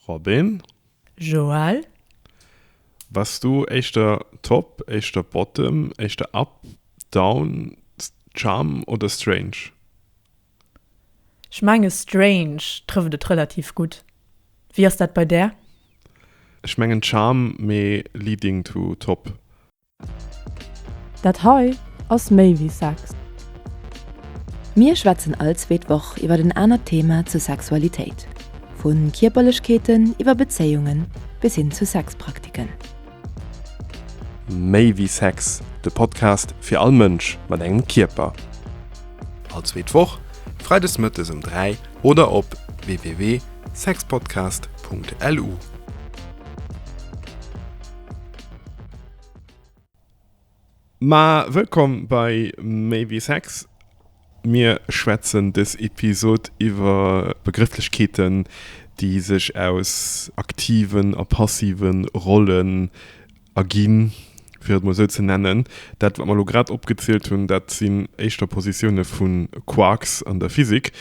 Robin. Joël. Bass du éischter Top, éischter Bottom, éischter Up, Down, Charm oder Strange? Ech menge Strange trëfft et relativ gutt. Wéi ass dat bei där? Ech mengen Charm, mee leading to Top. Dat hei ass méi wéi Sex. Mir schwätzen all zweet Woch iwwert en anert Thema zur Sexualitéit, vu Kierperlechkeeten iwwer Bezéiungen bis hin zu Sexpraktiken. Méi wéi Sex, de Podcast fir all Mënsch mat engem Kierper. All zweet Woch, Freides Mëttes um 3 oder op www.sexpodcast.lu. Ma wëllkomm bei Maybe Sex. Mir schwätzen dës Episod iwwer Begrëfflechkeeten, déi sech aus aktiven a passive Rollen erginn, fir et mol esou ze nennen. Dat, wat mer elo grad opgezielt hunn, dat sinn éischter Positioune vu Quarks an der Physik,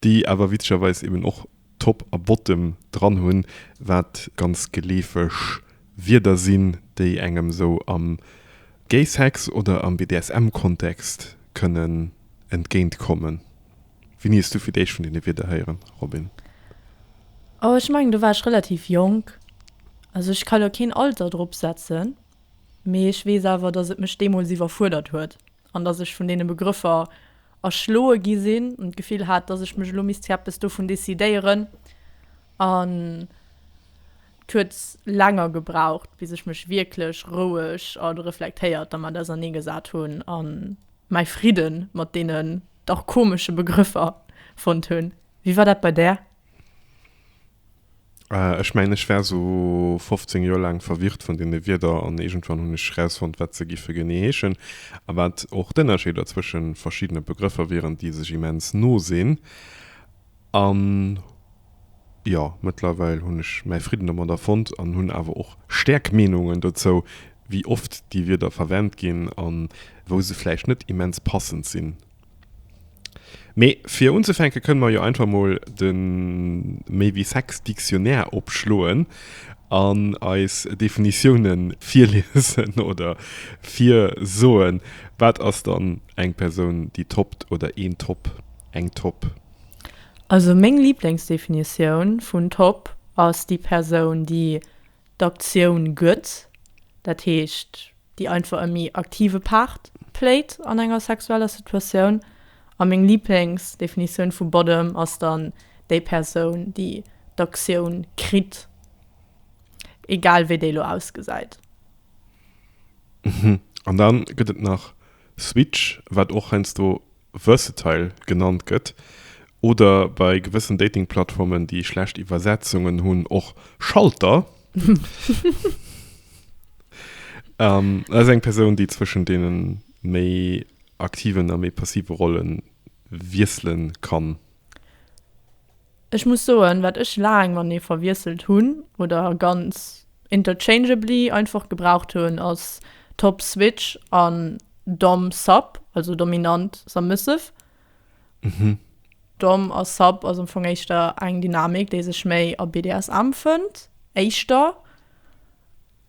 déi awer witzegerweis eeben och Top a Bottom dran hunn, wat ganz geleefeg Wierder sinn, déi engem sou am Gay Sex oder am BDSM Kontext kënnen entgéint kommen. Wéini hues du fir d'éischt vun deene Wierder héieren, Robin? Oh ech mengen do war ech relativ jonk, also ech ka lo keen Alter drop setzen, mee ech weess awer dass et mech deemools iwwerfuerdert huet. an dass ech vun deene Begrëffer erschloe gi sinn an d'Gefill hat, dass ech mech elo misst fir eppes dovun decidéieren. An et huet länger gebraucht, bis ech mech wierklech roueg a reflektéiert dermat auserneegesat hunn a mäi Fridde mat deenen dach komesche Begrëffer fonnt hunn. Wéi war dat bei där? Ech mengen, ech war sou 15 Joer laang verwirrt vun deene Wierder an iergendwann hunn ech erausfonnt, wat se giffe genee heeschen a wat och d'Ënnerscheeder zwësche verschiddene Begrëffer wieren, déi sech immens no sinn. An jo, mëttlerweil hunn ech mäi Fridden domadder fonnt an hunn awer och staark Meenungen dozou, wéi oft déi Wierder verwennt ginn a wou se vläicht net immens passend sinn. Mee fir unzefänke kënne mer jo einfach mol de Méi wéi Sex Dictionnaire opschloen an eis Definitioune virliesen oder virsoen. Wat ass dann eng Persoun, déi toppt oder een Topp, eng Topp? Also meng Liblingsdefinitioun vun Topp ass déi Persoun, déi d'Aktioun gëtt, dat heescht, déi einfach e méi aktive Part playt an enger sexueller Situatioun. A meng Liiblingsdefinitioun vu Bottom ass dann déi Persoun, déi d'Aktioun kritt, egal wéi déi elo ausgesäit. An dann gëtt et nach Switch, wat och heiansdo Versatile genannt gëtt, oder bei gewëssen Datingplattformen, déi schlecht Iwwersetzungen hunn, och Schalter, ass eng Persoun, déi zwëschen deene méi aktiven a méi passive Rolle wiessele kann. Ech muss soen, wat ech laang mat nee verwiesselt hunn oder ganz interchangeably einfach gebraucht hunn, ass Top Switch an Dom Sub, also Dominant Submissive. Dom a Sub ass am Fong éischter eng Dynamik, déi sech méi a BDSM fënnt, éischter.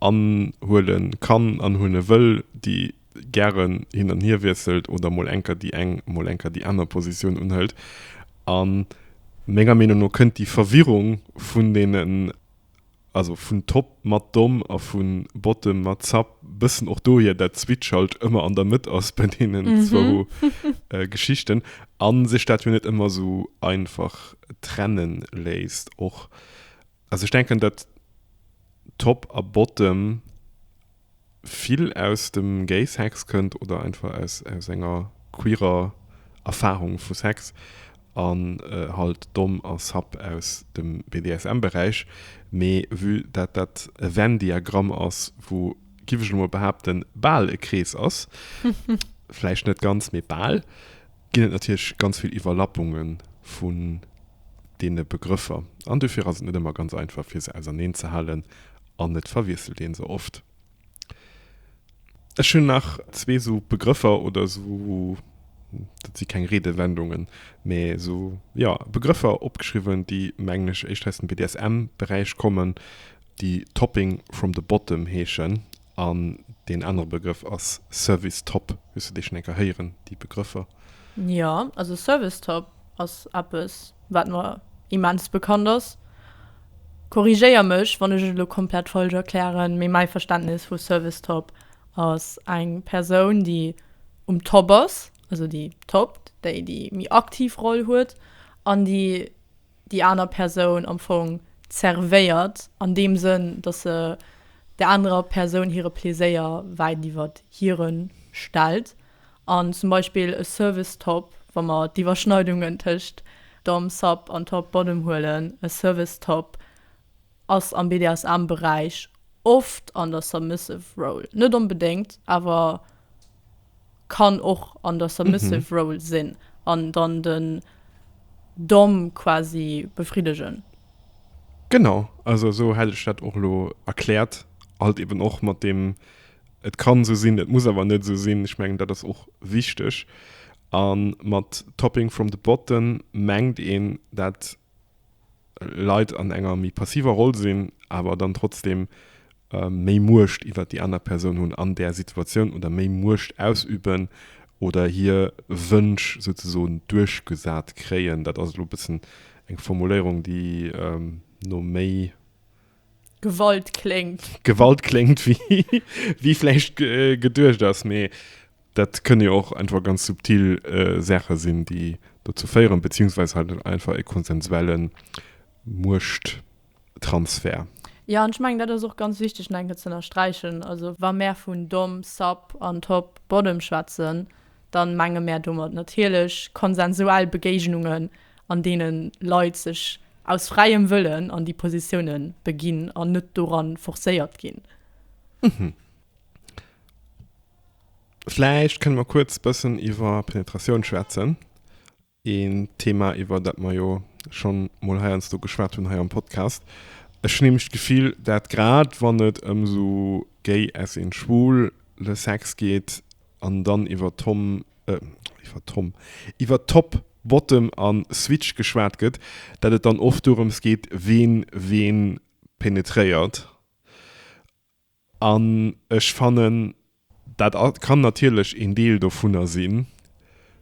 anhuele kann an huele wëll, déi gären hin an hier wiesselt oder mol enker déi eng, mol enker déi aner Positioun unhëlt. A menger Meenung no kënnt déi Verwirrung vun deenen, also vun Top mat Domm a vu Bottom mat Sub, e bëssen och dohier, dat d'Switch halt ëmmer an der Mëtt ass bei deenen zwou Geschichten a sech dat jo net ëmmer esou einfach trenne léisst. Och Also ech denken dat Top a Bottom vill aus dem Gay Sex kënnt oder einfach aus aus enger queerer Erfahrung vu Sex an halt Dom a Sub aus dem BDSM Beräich. Mee vue dat dat e Venn Diagramm ass wou giff ech elo mol behaapten bal e Krees ass, vläicht net ganz mee bal, ginn et natierlech ganz vill Iwwerlappunge vun deene Begrëffer an dofir ass et net ëmmer ganz einfach fir se auserneen ze halen an et verwiesselt een se oft. Ech hunn nach zwee esou Begrëffer oder esou, dat si keng Reedewendungen, mä esou, jo, Begrëffer opgeschriwwen, déi mengen ech éischter aus dem BDSM-Beräich kommen, déi Topping from the bottom heeschen An deen anere Begrëff ass Service Top. Hues du déi schonn eng Kéier héieren, déi Begrëffer? Jo, also Service Top ass eppes, wat mer immens bekannt ass. Korrigéier mech, wann ech et elo komplett falsch erklären, mee mäi Verständnis vu Service Top ass eng Persoun, déi um Top ass, also déi toppt, déi déi méi aktiv Roll huet an déi déi aner Persoun am Fong zervéiert, an deem Sënn, datt se der anerer Persoun hire Pleséier wäit iwwert hire stellt, an zum Beispill e Service Top, wa mer d'Iwwerschneidungen tëscht Dom Sub an Top Bottom huelen, e Service Top, Ass am BDSM Beräich oft an der submissive role, net onbedéngt, awer kann och an der submissive role sinn an dann den Dom quasi befriddegen. Genau, also esou hätt ech dat och elo erkläert, halt eben och mat deem et kann esou sinn, et muss awer net esou sinn, ech mengen dat ass och wichteg. A mat topping from the bottom mengt een dat Leit an enger méi passiver Roll sinn, awer dann trotzdeem méi Muecht iwwert déi aner Persoun hunn an där Situatioun oder méi Muecht ausüben oder hir Wënsch souzesoen duerchgesat kréien. Dat ass elo e bëssen eng Formuléierung, déi no méi Gewalt kléngt. Gewalt kléngt wéi, wéi vläicht geduecht ass, mee dat kënne jo och einfach ganz subtil Saache sinn, déi dozou féieren, beziehungsweis halt einfach e konsensuelle Muechttransfert. Jo, an ech mengen, dat ass och ganz wichteg no enke ze ënnersträichen. Also wa mer vun domm, sub an top, bottom schwätzen, dann menge mär domat natierlech konsensuell Begéignungen, an deene Leit sech aus fräiem Wëllen an déi Positioune beginn an net doran forcéiert ginn. Vläicht kënne mer kuerz e bëssen iwwer Penetratioun schwätzen. Een Thema, iwwer dat mer jo schonn emol heiansdo geschwat hunn hei am Podcast. Ech hunn nämlech d'Gefill, dat grad wann et ëm esou gay as in schwul le Sex geet an dann iwwer Tom, iwwer Tom, iwwer Top, Bottom a Switch geschwat gëtt, dat et dann oft dorëms geet, ween ween penetréiert. An ech fannen, dat kann natierlech een Deel dovunner sinn.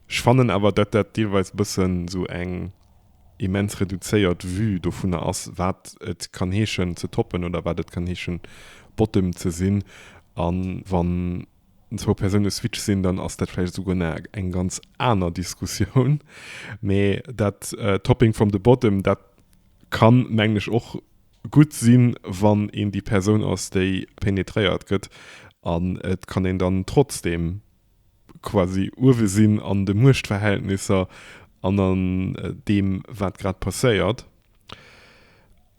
Ech fannen awer, datt dat deelweis e bëssen esou eng immens reduzéiert Vue dovunner ass, wat et kann heeschen ze toppen oder wat et kann heeschen Bottom ze sinn. A wann zwou Persoune Switch sinn, dann ass dat vläicht esouguer nach eng ganz aner Diskussioun. Mee dat Topping from the bottom, dat kann, mengen ech, och gutt sinn, wann een déi Persoun ass, déi penetréiert gëtt. An et kann een dann trotzdeem quasi uewe sinn an de Muechtverhältnisser an an deem, wat grad passéiert.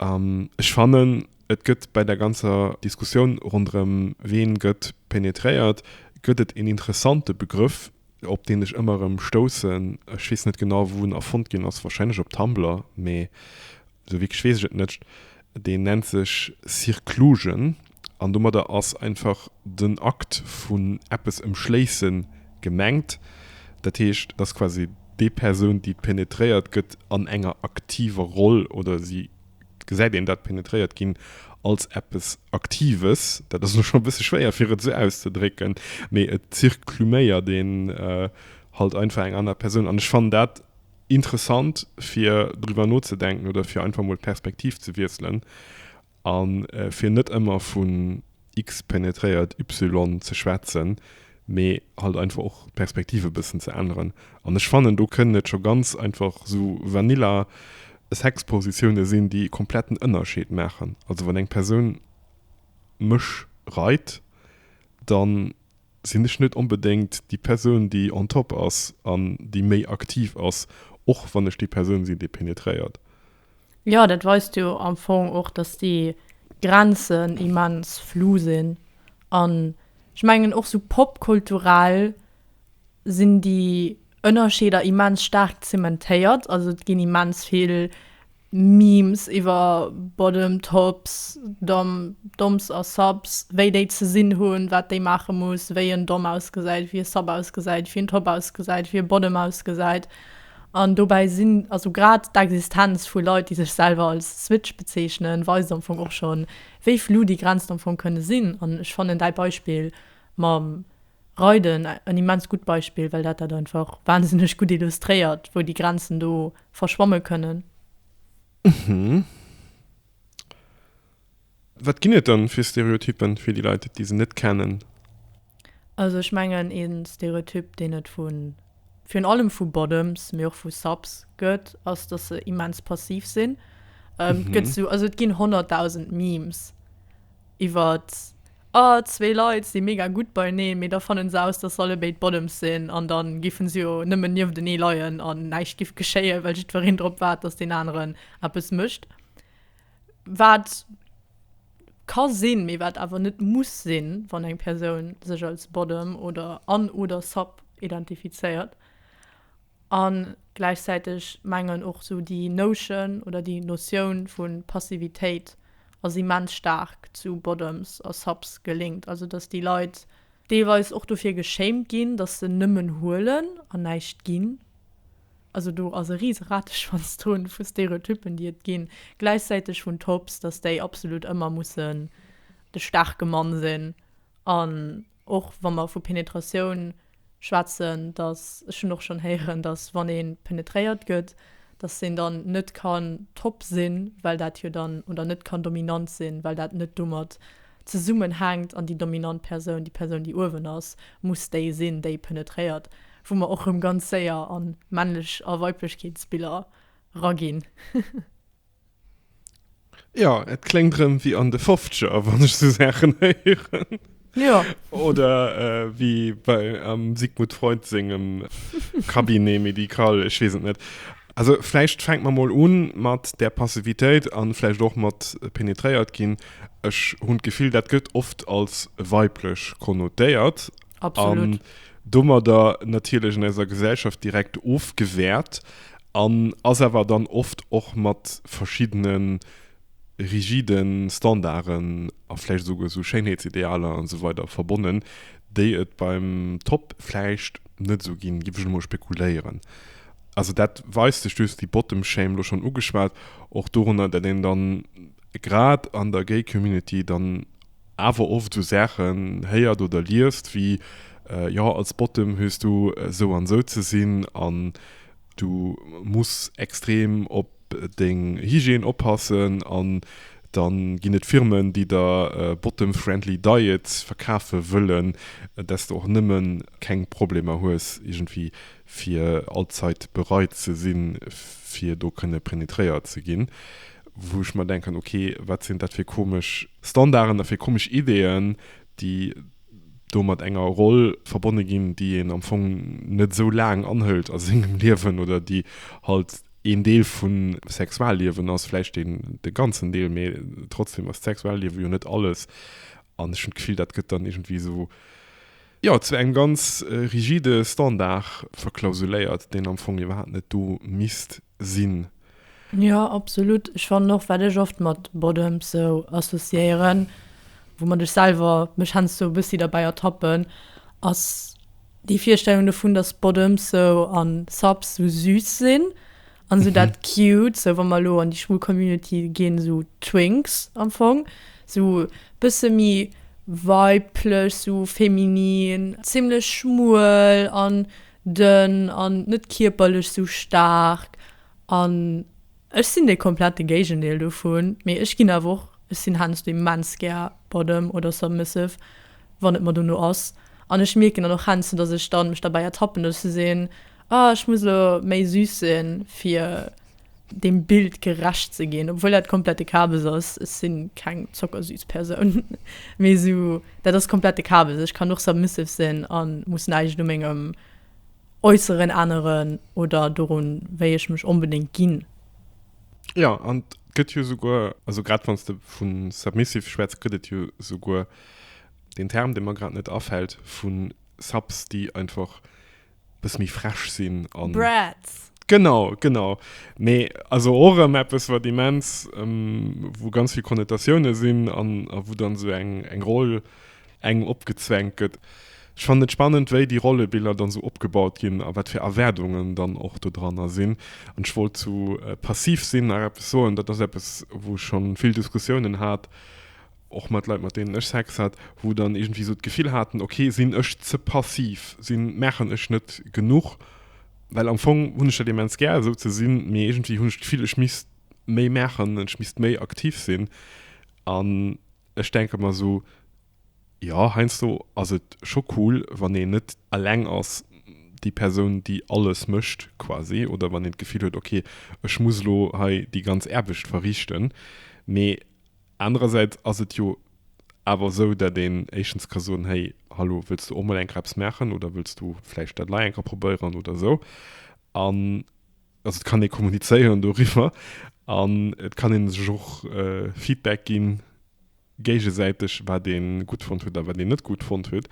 Ech fannen, et gëtt bei där ganzer Diskussioun ronderëm ween gëtt penetréiert, gëtt et een interessante Begrëff, op deen ech ëmmer erëm stoussen, ech weess net genau wou en erfonnt ginn ass, wahrscheinlech op Tumblr, mee esou wierklech weess ech et net, deen nennt sech Circlusion an domadder ass einfach den Akt vun eppes ëmschléisse gemengt, dat heescht, et ass quasi déi Persoun déi penetréiert gëtt an enger aktiver Roll oder si gesäit een dat penetréiert ginn als eppes Aktives. Dat ass elo scho e bësse schwéier, fir et esou auszedrécken, mee et zirkluméiert een halt einfach eng aner Persoun. An ech fannen dat interessant, fir driwwer nozedenken oder fir einfach emol d'Perspektiv ze wiesselen a fir net ëmmer vu. X penetréiert Y ze schwätzen, mee halt einfach och d'Perspektiv e bëssen ze änneren. An ech fannen, do kënnen et scho ganz einfach esou vanilla Sexpositioune sinn, déi e kompletten Ënnerscheed maachen. Also wann eng Persoun mech reit, da sinn ech net onbedéngt déi Persoun, déi on top ass an déi méi aktiv ass, och wann ech déi Persoun sinn, déi penetréiert. Jo, dat weist jo am Fong och, dass déi Grenzen immens flu sinn. An ech mengen och sou popkulturell sinn déi Ënnerscheeder immens staark zementéiert. Also et ginn immens vill Memes iwwer Bottom, Tops, Dom, Doms a Subs, wéi déi ze sinn hunn, wat déi maache muss, wéi en Dom ausgesäit, wéi e Sub ausgesäit, wéi en Top ausgesäit, wéi e Bottom ausgesäit. An dobäi sinn, also grad d'Existenz vu Leit, déi sech selwer als Switch bezeechnen, weist am Fong och schonn, wéi flou déi Grenzen am Fong kënne sinn. An ech fannen däi Beispill mam Reiden en immens gutt Beispill, well dat dat einfach wahnsinneg gutt illustréiert, wou déi Grenzen do verschwamme kënnen. Wat ginn et dann fir Stereotyppen fir déi Leit déi se net kennen? Also ech mengen een Stereotyp deen et vu virun allem vu Bottoms mee och vu Subs gëtt ass dass se immens passiv sinn. Et gëtt sou, also et ginn 100.000 Memes iwwert ah zwee Leit si mega gutt beieneen mee da fannen se aus dass se allebéid Bottoms sinn an dann giffen se jo nëmmen nieftenee leien an näischt giff geschéien well jiddwereen drop waart dass deen aneren eppes mécht. Wat ka sinn, mee wat awer net muss sinn, wann eng Persoun sech als Bottom oder an oder Sub identifizéiert. A gläichzäiteg mengen och sou déi Notion oder déi Notioun vu Passivitéit ass immens staark zu Bottoms a Subs gelinkt. Also datt déi Leit deelweis och dofir geschéimt ginn, datt se nëmmen huelen an näischt ginn, Also do ass e riise Rateschwanztoun vu Stereotypen déi et ginn, gläichzäiteg hunn d'Hobbs, datt déi absolut ëmmer mussen de staarke Mann sinn an och wa mer vu Penetratioun schwätzen, datt, ech hunn och schonn héieren, datt wann ee penetréiert gëtt, datt en dann net kann top sinn, well dat jo dann, oder net kann dominant sinn, well dat net domat zesummenhänkt an déi dominant Persoun, déi Persoun déi uewen ass, muss déi sinn déi penetréiert. Wou mer och rëm ganz séier a männlech a Weiblechkeetsbiller raginn. Jo, et kléngt rëm wéi an de Fofzeger, wann ech sou Saachen héieren. Jo. Oder wéi bei am Sigmund Freud sengem Cabinet médical, ech weess et net. Also vläicht fänke mer mol u mat där Passivitéit a vläicht och mat penetréiert ginn. Ech hunn d'Gefill, dat gëtt oft als weiblech konnotéiert. Absolut. An domadder natierlech an eiser Gesellschaft direkt ofgewäert an ass awer dann oft och mat verschiddene rigide Standarden a vläicht esouguer esou Schéinheetsidealer an esou weider verbonnen, déi et beim Top vläicht net esou ginn, géif ech elo mol spekuléieren. Also dat weist sech duerch déi Bottom-Shame, elo schonn ugeschwat, och dorunner, datt een dann grad an der Gay-Community dann, awer oft esou Saachen héiert oder liest wéi, Jo, als Bottom hues du esou an esou ze sinn an du muss extrem op deng Hygiène oppassen an dann ginn et Firmen, déi der Bottom Friendly Diet verkafe wëllen, dass du och nëmme keng Problemer hues iergendwéi fir all Zait bereit ze sinn, fir do kënne penetréiert ze ginn. wou ech mer denken, ok, wat sinn dat fir komesch Standarden a fir komesch Ideeën, déi do mat enger Roll verbonne ginn, déi een am Fong net esou laang anhëlt a sengem Liewen oder déi halt een Deel vum Sexualliewen ass, vläicht deen de ganzen Deel, mee trotzdeem ass d'Sexualliewe jo net alles. An ech hunn d'Gefill, dat gëtt dann iergendwéi esou, jo, zu engem ganz rigide Standard verklausuléiert, deen am Fong iwwerhaapt net do misst sinn. Jo, absolut. Ech fannen och, wat ech oft mat Boddoms sou associéieren, woumat ech selwer mech heiansdo e bëssi derbäi ertappen, ass déi Virstellung dovun, dass Bottoms sou an Subs sou süß sinn an sou dat cute, sou wa mer elo an déi schwul Community ginn, sou Twinks am Fong, sou bësse méi weiblech, sou feminin, zimmlech schmuel an Dënn an net kierperlech sou staark. An ech sinn de komplette Géigendeel dovun. Mee ech ginn awer och, ech sinn heiansdo immens gär bottom oder submissive, wann et mer dono ass. An ech mierken dann och heiansdo, datt ech dann mech derbäi ertappen, datt ech sou sinn, ah ech muss elo méi süß sinn, fir dem Bild gerecht ze ginn, obwuel dat komplette Kabes ass, ech sinn keng zockersüß Persoun, mee sou dat ass komplette Kabes, ech kann och submissive sinn an muss näischt u mengem Äusseren änneren oder dorun wéi ech mech onbedéngt ginn. Jo an et gëtt jo souguer, also grad wann s de vu submissive schwätz, gëtt et jo souguer den Term, dee mer grad net afält, vu Subs, déi einfach bis mi fresch sinn an Bratz. Genau, genau. Mee also och ëm eppes, wat immens, ähm, wou ganz vill Konnotatiounen sinn an a wou dann sou eng, eng Roll engem opgezwängt gëtt. Ech fannen et spannend, wéi déi Rollebiller dann sou opgebaut ginn a wat fir Erwaardungen dann och dodranner sinn. An ech wollt zu Passiv sinn nach eppes soen. Dat ass eppes, wou ech schonn vill Diskussiounen hat. och mat Leit mat deenen ech Sex hat, wou dann iergendwéi esou d'Gefill haten, ok sinn ech ze passiv, sinn maachen ech net genuch, well am Fong hunn ech dat immens gär esou ze sinn, mee iergendwéi hunn ech d'Gefill ech misst méi maachen, ech misst méi aktiv sinn an ech denke mer esou, jo heiansdo ass et scho cool wann een net eleng ass déi Persoun déi alles mécht quasi oder wann een d'Gefill huet, ok ech muss elo hei déi ganz Aarbecht verrichten, mee Anerersäits ass et jo awer esou, datt een éischtens ka soen, Hey, hallo, wëlls du och mol eng Kéier eppes maachen oder wëlls du vläicht dat lei eng Kéier probéieren oder esou. An also et kann ee kommunizéieren doriwwer an et kann ee sech och Feedback gi géigesäiteg, wat ee gutt fonnt huet a wat een net gutt fonnt huet.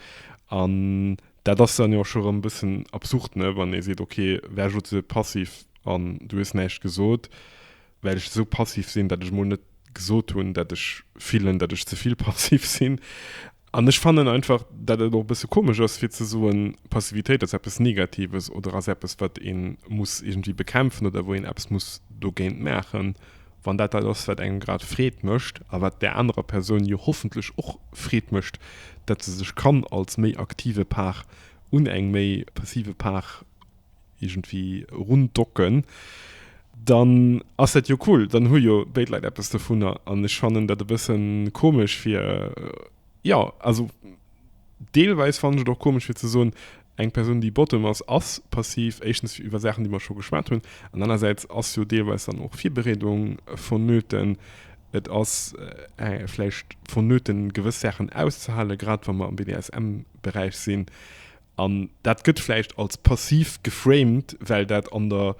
An dat ass dann jo scho erëm e bëssen absurd, ne, wann ee seet, Okay, wärst elo ze passiv an du hues näischt gesot. well ech esou passiv sinn, datt ech mol net gesot hunn, datt ech fillen, datt ech ze vill passiv sinn. An ech fannen einfach, datt et och e bësse komesch ass, fir ze soen, Passivitéit ass eppes Negatives oder ass eppes, wat ee muss iergendwéi bekämpfen oder wou een eppes muss dogéint maachen, wann dat dat ass, wat engem grad Freed mécht a wat där anerer Persoun jo hoffentlech och Freed mécht, datt se sech kann als méi aktive Part un eng méi passive Part iergendwéi erun docken, dann ass dat jo cool, dann hu jo béid Leit eppes dovunner. An ech fannen dat e bësse komesch fir, jo, also deelweis fannen ech et och komesch fir ze soen, eng Persoun, déi bottom ass, ass passiv, éischtens iwwer Saachen, déi mer scho geschwat hunn, an anerersäits ass jo deelweis dann och Virbereedung vonnöten. Et ass vläicht vonnöten, gewëss Saachen auszehalen, grad wa mer am BDSM-Beräich sinn. An dat gëtt vläicht als Passiv geframed, well dat an der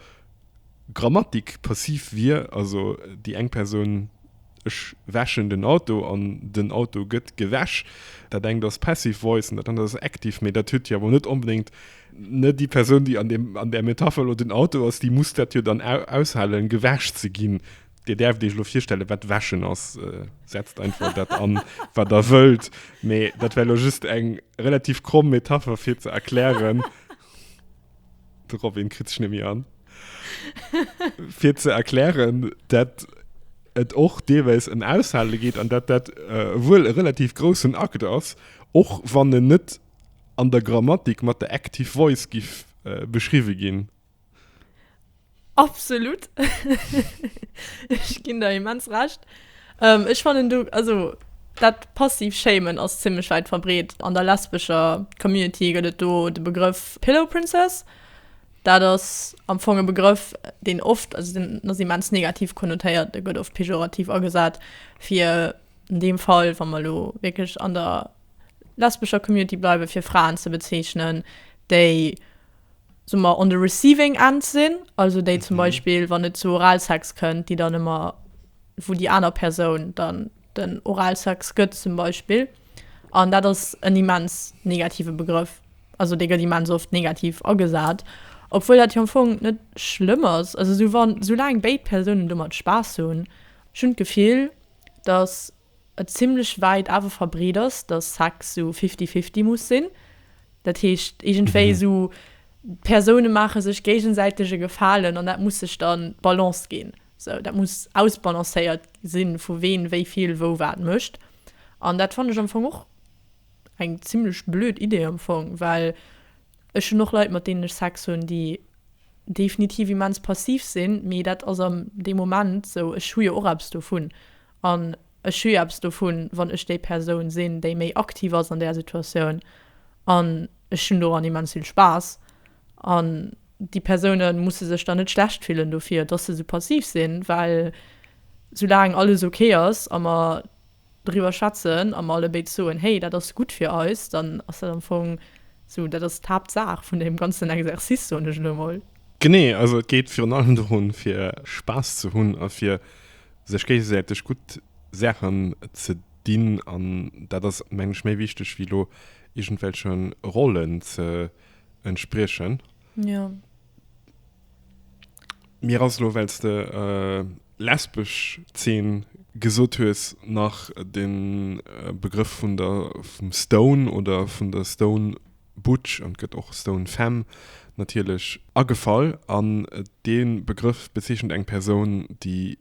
Grammatik passiv wier, also déi eng Persoun, ech wäschen den Auto an den Auto gëtt gewäsch. Dat engt ass passive voice an dat anert ass active, mee dat huet jo awer net onbedéngt, ne, déi Persoun, déi an där Metapher elo den Auto ass, déi muss dat jo dann aushalen, gewäsch ze ginn. Dir däerft Iech elo virstellen, wat wäschen ass. Setzt einfach dat an, wat Der wëllt. Mee dat war elo just eng relativ kromm Metapher, fir ze erklären, de Robin kritt sech net méi an, fir ze erklären, dat et och deelweis ëm Aushale geet an dat dat wuel e relativ groussen Akt ass, och wann en net an der Grammatik mat der Active Voice giff beschriwwe ginn. Absolut! Ech ginn der immens Recht. Ech fannen do, also dat passiv Shamen ass zimmlech wäit verbreet. An der lesbescher Community gëtt et do de Begrëff Pillow Princess. Dat ass am Fong e Begrëff, deen oft, also deen ass immens negativ konnotéiert, dee gëtt oft pejorativ agesat, fir an deem Fall, wa mer elo wierklech an der lesbescher Community bleiwen, fir Fraen ze bezeechnen, déi soe mer, on the receiving end sinn, also déi zum Beispill, wann et zu Oralsex kënnt, déi dann ëmmer, wou déi aner Persoun dann den Oralsex gëtt zum Beispill. An dat ass en immens negative Begrëff, also dee gëtt immens oft negativ agesat, obwuel dat jo am Fong net schlëmm ass. Also esou wann, soulaang béid Persounen domat Spaass hunn, ech hunn d'Gefill, datt. et zimmlech wäit awer verbreet ass, dass Sex esou fifty-fifty muss sinn. Dat heescht, iergendwéi esou d'Persoune maache sech géigesäiteg e Gefalen an dat muss sech dann d'Balance ginn. Esou, dat muss ausbalancéiert sinn, vu ween wéi vill wou wat mécht. An dat fannen ech am Fong och eng zimmlech blöd Idee am Fong, well ech hunn och Leit, mat deenen ech Sex hunn, déi definitiv immens passiv sinn, mee dat ass am dee Moment esou, ech hu jo och eppes dovun. An ech hu jo eppes dovun, wann ech déi Persoun sinn, déi méi aktiv ass an där Situatioun. An ech hunn doran immens vill Spaass. An déi Persoune musse sech dann net schlecht fillen dofir, dass se esou passiv sinn, well soulaang alles ok ass a mer driwwer schwätzen a mer allebéid soen, Hey, dat ass gutt fir eis, dann ass dat am Fong esou, dat ass d'Haaptsaach vun deem ganzen Exercice, soen ech elo emol. Genee, also et geet virun allem dorun, fir Spaass ze hunn a fir sech géigesäiteg gutt Saachen ze dinn an dat ass mengen ech méi wichteg wéi elo iergendwelche Rollen ze entspriechen. Jo. Mir ass elo, wells de lesbesch Zeen gesot hues, nach de Begrëff vun der vum Stone oder vun der Stone Butch an gëtt och Stone Femme natierlech agefall an dee Begrëff bezeechent eng Persoun, déi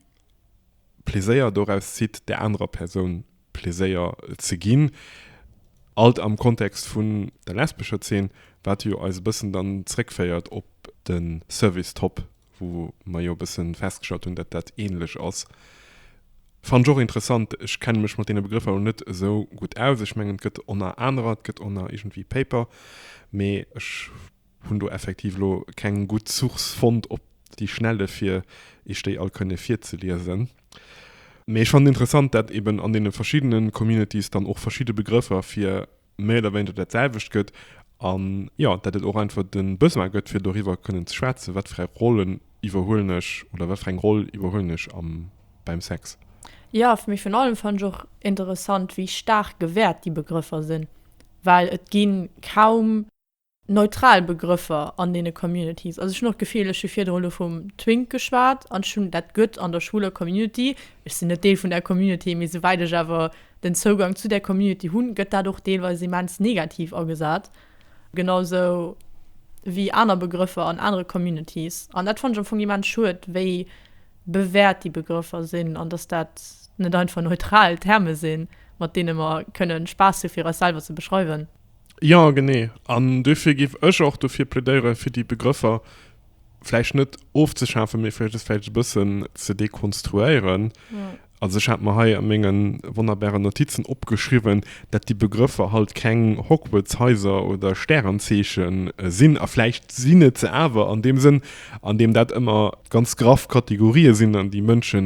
Pleséier doraus zitt, där anerer Persoun Pleséier ze ginn. Alt am Kontext vun der lesbescher Zeen, wat jo eis e bëssen dann zréckféiert op de Service Top wou mer jo e bëssen festgestallt hunn, datt dat ähnlech ass, fannen ech och interessant. Ech kenne mech mat deene Begrëffer lo net esou gutt aus. Ech mengen, et gëtt oner anerer, et gëtt oner iergendwéi Paper, mee ech hunn do effektiv lo keng gutt Source fonnt op déi Schnelle fir Iech déi all kënne virzeliesen. Mee ech fannen interessant, datt eben an deene verschiddene Communities dann och verschidde Begrëffer fir méi oder wéineger dat selwecht gëtt an jo, dat et och einfach de Besoin gëtt fir doriwwer kënnen ze schwätzen, wat fir eng Rollen iwwerhuelen ech oder wat fir eng Roll iwwerhuelen ech am beim Sex. Jo, fir mech virun allem fand ech och interessant wéi staark gewäert déi Begrëffer sinn, well et ginn kaum. neutral Begrëffer an deene Communities. Also ech hunn och d'Gefill, ech hu virdrun elo vum Twink geschwat an ech hunn, dat gëtt an der schwuler Community, ech sinn net Deel vun där Community, mee souwäit ech awer den Zougang zu där Community hunn, gëtt dat och deelweis immens negativ agesat, genausou wéi aner Begrëffer an anere Communities. An dat fanne ech am Fong immens schued, wéi bewäert déi Begrëffer sinn an datt dat net einfach neutral Terme sinn, mat deene mer kënnen Spaass hu fir eis selwer ze beschreiwen. Jo, genee. An duerfir géif ech och dofir plädéieren, fir déi Begrëffer vläicht net ofzeschafen, mee vläicht se vläicht e bëssen ze dekonstruéieren. Also ech hat mer hei a menge wonnerbare Notizen opgeschriwwen, datt déi Begrëffer halt keng Hogwarts-Haiser oder Stärenzeeche sinn. A vläicht sinn et se awer an deem Sënn, an deem dat ëmmer ganz graff Kategorië sinn, an déi Mënsche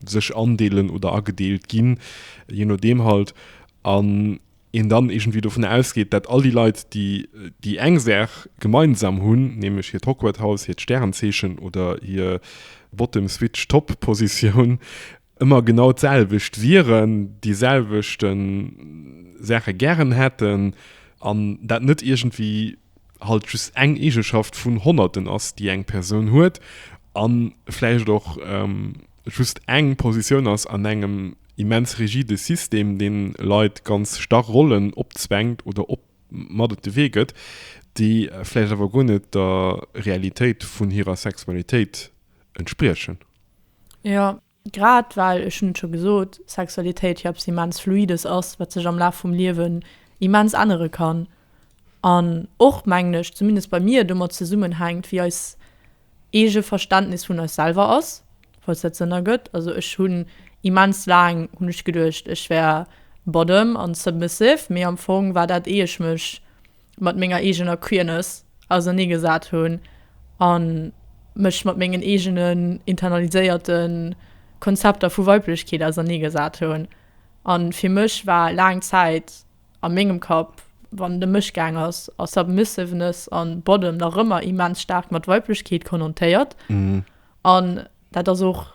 sech andeelen oder agedeelt ginn, jee nodeem halt. An een dann iergendwéi dovun ausgeet, dat all déi Leit, déi déi eng Saach gemeinsam hunn, nämlech hiert Hogwarthaus, hiert Stärenzeechen oder hir Bottom-Switch-Top-Positioun, ëmmer genau d'selwecht wieren, déi selwechten Saache gären hätten an dat net iergendwéi, halt just eng Eegeschaft vun honnerten ass, déi eng Persoun huet a vläicht och just eng Positioun ass an engem immens rigide System, dee Leit ganz starr Rollen opzwängt oder mat op de Wee gëtt, déi vläicht awer guer net der Realitéit vun hirer Sexualitéit entspriechen. Jo, Grad well, ech hunn et scho gesot, Sexualitéit jo eppes immens Fluides ass, wat sech am Laf vum Liewen immens ännere kann an och, mengen ech, zumindest bei mir, domat zesummenhänkt, wéi eis eege Verständnis vun eis selwer ass, falls dat Sënn ergëtt. Also ech hunn immens laang hunn ech geduecht, ech wär bottom an submissive, mee am Fong war dat, éier ech mech mat menger eegener Queerness ausernee gesat hunn a mech mat mengen eegenen internaliséierte Konzepter vu Weiblechkeet ausernee gesat hunn. A fir mech war laang Zäit a mengem Kapp, wann et ëm mech gaang ass, a Submissiveness a Bottom nach ëmmer immens staark mat Weiblechkeet konnotéiert an dat ass och,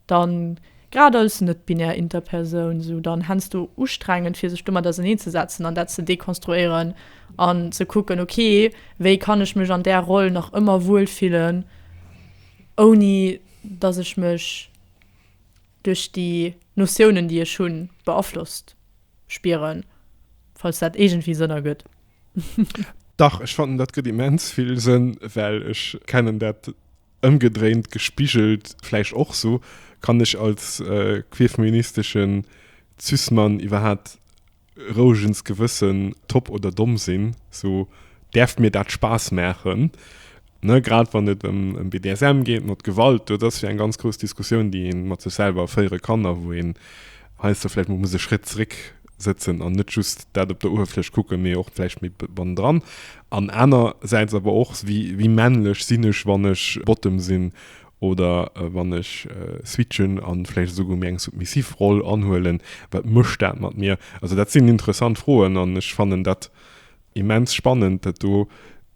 dann grad als net-binär Interpersoun, esou dann hensdo ustrengend fir sech domat auserneen ze setzen an dat ze dekonstruéieren an ze kucken, ok wéi kann ech mech an där Roll nach ëmmer wuel fillen ouni dass ech mech duerch déi Notiounen déi ech hunn beaflosst spieren, falls dat iergendwéi Sënn ergëtt. Dach, ech fannen dat gëtt immens vill Sënn, well ech kennen dat. Ëmgedréint, gespigelt vläicht och sou, kann ech als queerfeministeschen Cis-Mann iwwerhaapt rouegens Gewëssen top oder domm sinn? Sou, däerf mir dat Spaass maachen? Ne, grad wann et ëm BDSM geet, mat Gewalt, do, dat ass jo eng ganz grouss Diskussioun, déi ee mat sech selwer féiere kann a wou een heiansdo vläicht mol muss e Schrétt zeréck sëtzen an net just dat op der Uewerfläch kucken, mee och vläicht méi bannendran. An anersäits awer och, wéi männlech sinn ech, wann ech Bottom sinn oder wann ech switchen a vläicht esouguer méi eng submissiv Roll anhuelen, wat mécht dat mat mir? Also dat sinn interessant Froen an ech fannen dat immens spannend, dat do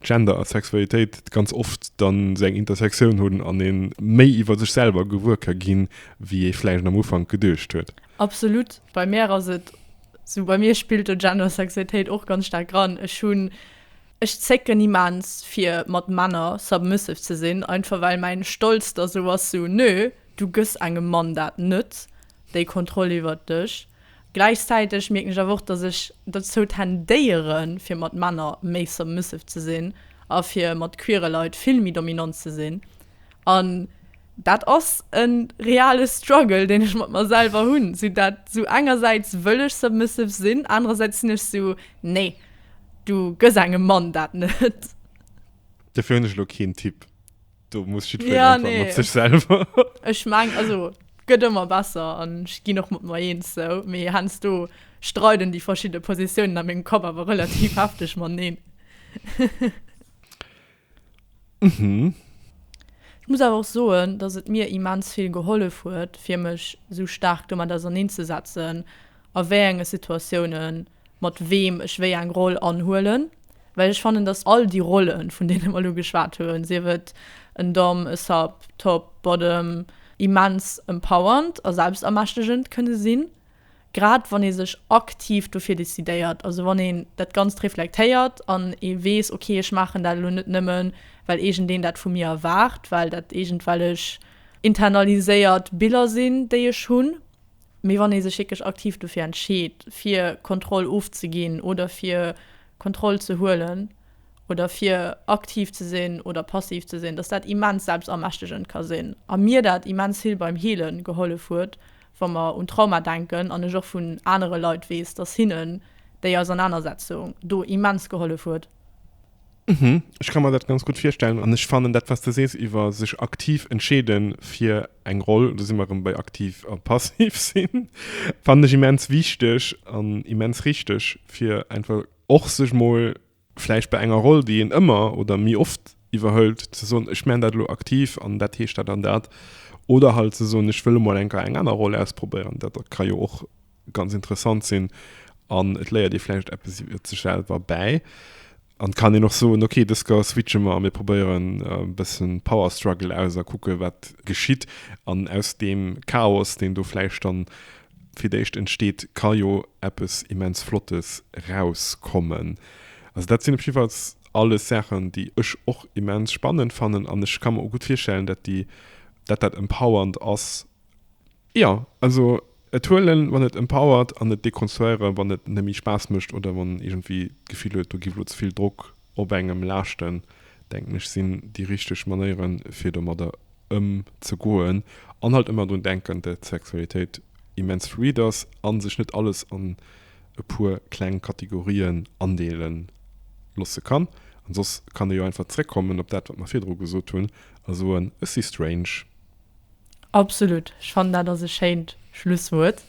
Gender a Sexualitéit ganz oft dann esou eng Intersektioun hunn an ee méi iwwer sech selwer gewuer ka ginn, wéi ee vläicht am Ufank geduecht huet. Absolut, bei mär ass et sou, bei mir spillt do Gendersexuetéit och ganz staark ran. Ech hunn, ech zécken immens fir mat Männer submissive ze sinn, einfach well mäin Stolz da sou ass, sou nö, du gëss engem Mann dat net, déi Kontroll iwwert dech. Gläichzäiteg mierken ech awer och, dass ech dozou tendéieren, fir mat Männer méi submissive ze sinn a fir mat queere Leit vill méi dominant ze sinn. An dat ass e reale Struggle, deen ech mat mer selwer hunn. Sinn dat esou, engersäits wëll ech submissive sinn, anerersäits sinn ech esou, nee, du gëss engem Mann dat net. Dofir hunn ech elo keen Tipp. Do muss jiddwereen einfach mat sech selwer. Ja, nee. Ech mengen, also gëtt ëmmer besser an ech ginn och mat mer eens sou. Mee heiansdo streiden déi verschidde Positiounen a mengem Kapp awer relativ hefteg mateneen. Ech muss awer och soen, dass et mir immens vill gehollef huet, fir mech esou staark domat auserneenzesetzen, a wéi enge Situatiounen mat weem ech wéi eng Roll anhuelen, well ech fannen, dass all déi Rollen, vun deene mer elo geschwat hunn, sief et en Dom, e Sub, Top, Bottom, immens empowernd a selbstermächtegend kënne sinn. Grad wann ee sech aktiv dofir decidéiert, also wann een dat Ganzt reflektéiert an ee weess, ok ech maachen dat elo net nëmme well iergendeen dat vu mir erwaart, well dat iergendwellech internaliséiert Biller sinn, déi ech hunn, mee wann ee sech wierklech aktiv dofir entscheet, fir Kontroll ofzeginn oder fir Kontroll ze huelen oder fir aktiv ze sinn oder passiv ze sinn, datt dat immens selbstermächtegend ka sinn a mir dat immens vill beim Heele gehollef huet, wa mer un Trauma denken, an ech och vun anere Leit weess, dass hinnen déi Ausernanersetzung do immens gehollef huet. Ech ka mer dat ganz gutt virstellen. An ech fannen dat, wat s de sees iwwer sech aktiv entscheede fir eng Roll, do si mer erëm bei aktiv a passiv sinn, fannen ech immens wichteg an immens richteg, fir einfach och sech mol vläicht bei enger Roll, déi een ëmmer oder méi oft iwwerhëlt, ze soen, ech maachen dat elo aktiv an dat heescht dat an dat. Oder halt ze soen, ech wëll emol eng Keier eng aner Roll ausprobéieren. Dat ka jo och ganz interessant sinn an et léiert ee vläicht eppes iwwer sech selwer bäi. An et kann een och soen, okay, dës Keier switche mer a mir probéieren e bësse Power Struggle aus a kucke wat geschitt. An aus deem Chaos, deen do vläicht dann Fir d'éischt entsteet, ka jo eppes immens Flottes rauskommen. Also dat sinn op jiddefalls alles Saachen, déi ech och immens spannend fannen an ech ka mer och gutt virstellen, dat déi, dat dat empowernd ass. Jo, also et huelen, wann et empowert, an et dekonstruéieren, wann et net méi Spaass mécht oder wann een iergendwéi d'Gefill huet, do géif elo ze vill Drock Op engem laaschten, denken ech, sinn déi richteg Manéieren, fir domadder ëmzegoen, an halt ëmmer drun denken, dat d'Sexualitéit immens fluid ass a sech net alles an e puer kleng Kategorien andeele loosse kann. An soss kann ee jo einfach zréckkommen op dat, wat mer virdru gesot hunn, a soen, Ech si strange. Absolut, ech fannen dat ass e schéint Schlusswuert.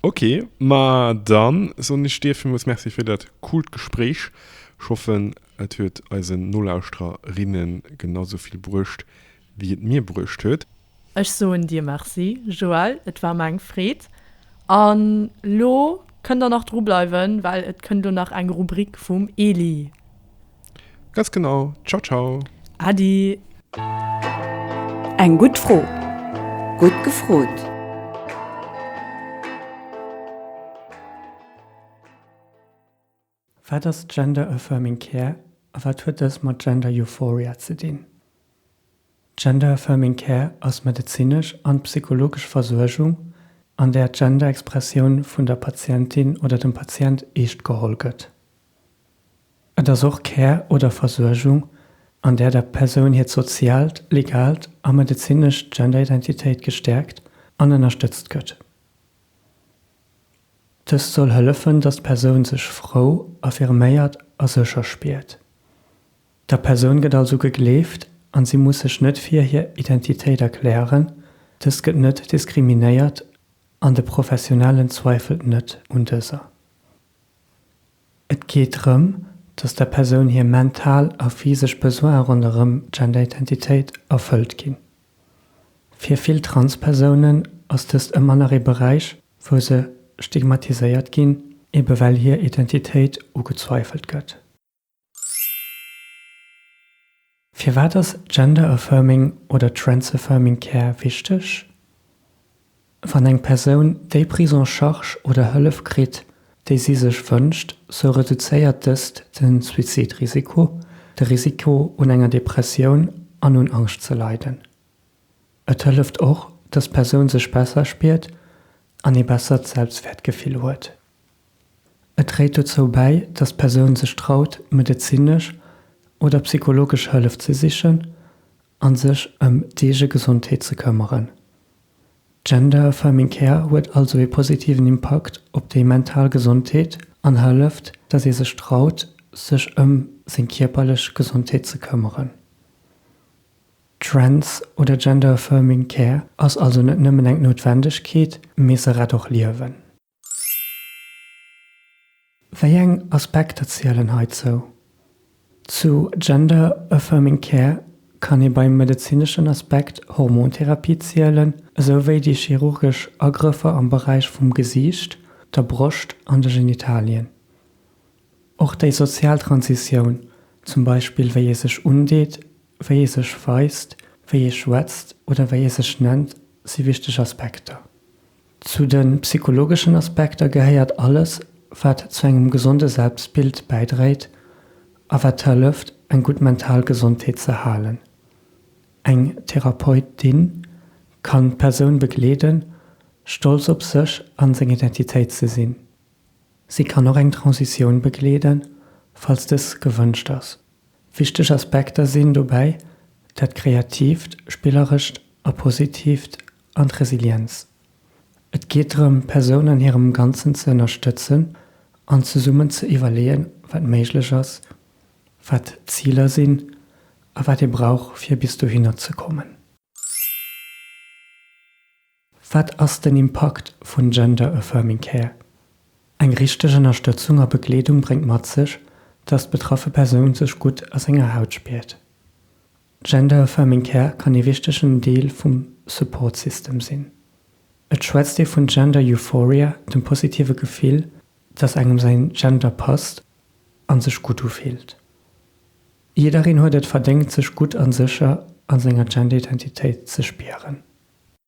Ok, ma dann soen ech dir villmools Merci fir dat coolt Gespréich. Ech hoffen et huet eisen Nolauschtererinnen genau sou vill bruecht wéi et mir bruecht huet. Ech soen dir Merci Joël, et war mer eng Freed. An lo kënnt der nach dru bleiwen, well et kënnt lo nach eng Rubrik vum Elie. Ganz genau. Ciao ciao. Adi. Eng gutt Fro. Gutt gefrot. Wat ass Gender Affirming Care a wat huet dës mat Gender Euphoria ze dinn? Gender Affirming Care ass medezinesch an psychologesch Versuergung, an där d'Gender-Expressioun vun der Patientin oder dem Patient eescht geholl gëtt. Et ass och Care oder Versuergung, an där der Persoun hiert soziaalt, legalt a medezinescht Genderidentitéit gestäerkt an ënnerstëtzt gëtt. Dëst soll hëllefen, datt d'Persoun sech frou, affirméiert a sécher spiert. Der Persoun gëtt also gegleeft an si muss sech net fir hir Identitéit erklären, dës gëtt net diskriminéiert an de Professionellen zweifelt net un dëser. Et geet drëm, dass der Persoun hir mental a physesch Besoine ronderëm d'Genderidentitéit erfëllt ginn. Fir vill Transpersounen ass dëst ëmmer nach ee Beräich, wou se stigmatiséiert ginn, ebe well hir Identitéit ugezweifelt gëtt. Firwat ass Gender Affirming oder Trans Affirming Care wichteg? Wann eng Persoun déi Prise en charge oder Hëllef kritt, déi si sech wënscht, sou reduzéiert dëst de Suizidrisiko, de Risiko un enger Depressioun an un Angscht ze leiden. Et hëlleft och, dass d'Persoun sech besser spiert an ee bessert Selbstwäertgefill huet. Et dréit dozou bäi, dass d'Persoun sech traut, medezinesch oder psychologesch Hëllef ze sichen an sech ëm d'eege Gesondheet ze këmmeren. Gender Affirming Care huet also ee positiven Impakt op déi mental Gesondheet an hëlleft, dass ee sech traut, sech ëm seng kierperlech Gesondheet ze këmmeren. Trans oder Gender Affirming Care ass also net nëmmen eng Noutwendegkeet, mee se rett och Liewen. Wéi eng Aspekter zielen heizou? Zu Gender Affirming Care kann ee beim medezineschen Aspekt Hormontherapie zielen, esou wéi déi chirurgesch Agrëffer am Beräich vum Gesiicht, der Broscht an de Genitalien. Och déi sozial Transitioun, zum Beispill wéi ee sech undeet, wéi ee sech weist, wéi ee schwätzt oder wéi ee sech nennt, si wichteg Aspekter. Zu de psychologeschen Aspekter gehéiert alles, wat zu engem gesonde Selbstbild bäidréit a wat hëlleft, eng gutt mental Gesondheet ze halen. Eng Therapeutin kann d'Persoun begleeden, stolz op sech a seng Identitéit ze sinn. Si kann och eng Transitioun begleeden, falls dës gewënscht ass. Wichteg Aspekter sinn dobäi dat kreatiivt, spillerescht a positiivt an d'Resilienz. Et geet drëm, d'Persoun an hirem Ganzen ze ënnerstëtzen an zesummen ze iwwerleeën, wat méiglech ass, wat d'Ziler sinn a wat ee brauch, fir bis dohinner ze kommen. Wat ass den Impakt vun Gender Affirming Care? Eng richteg Ënnerstëtzung a Begleedung bréngt mat sech, dass d'betraffe Persoun sech gutt a senger Haut spiert. Gender Affirming Care kann ee wichtegen Deel vum Support System sinn. Et schwätzt ee vun Gender Euphoria, dem positive Gefill, dass engem säin Gender passt an sech gutt ufillt. Jiddereen huet et verdéngt sech gutt an sécher an senger Genderidentitéit ze spieren.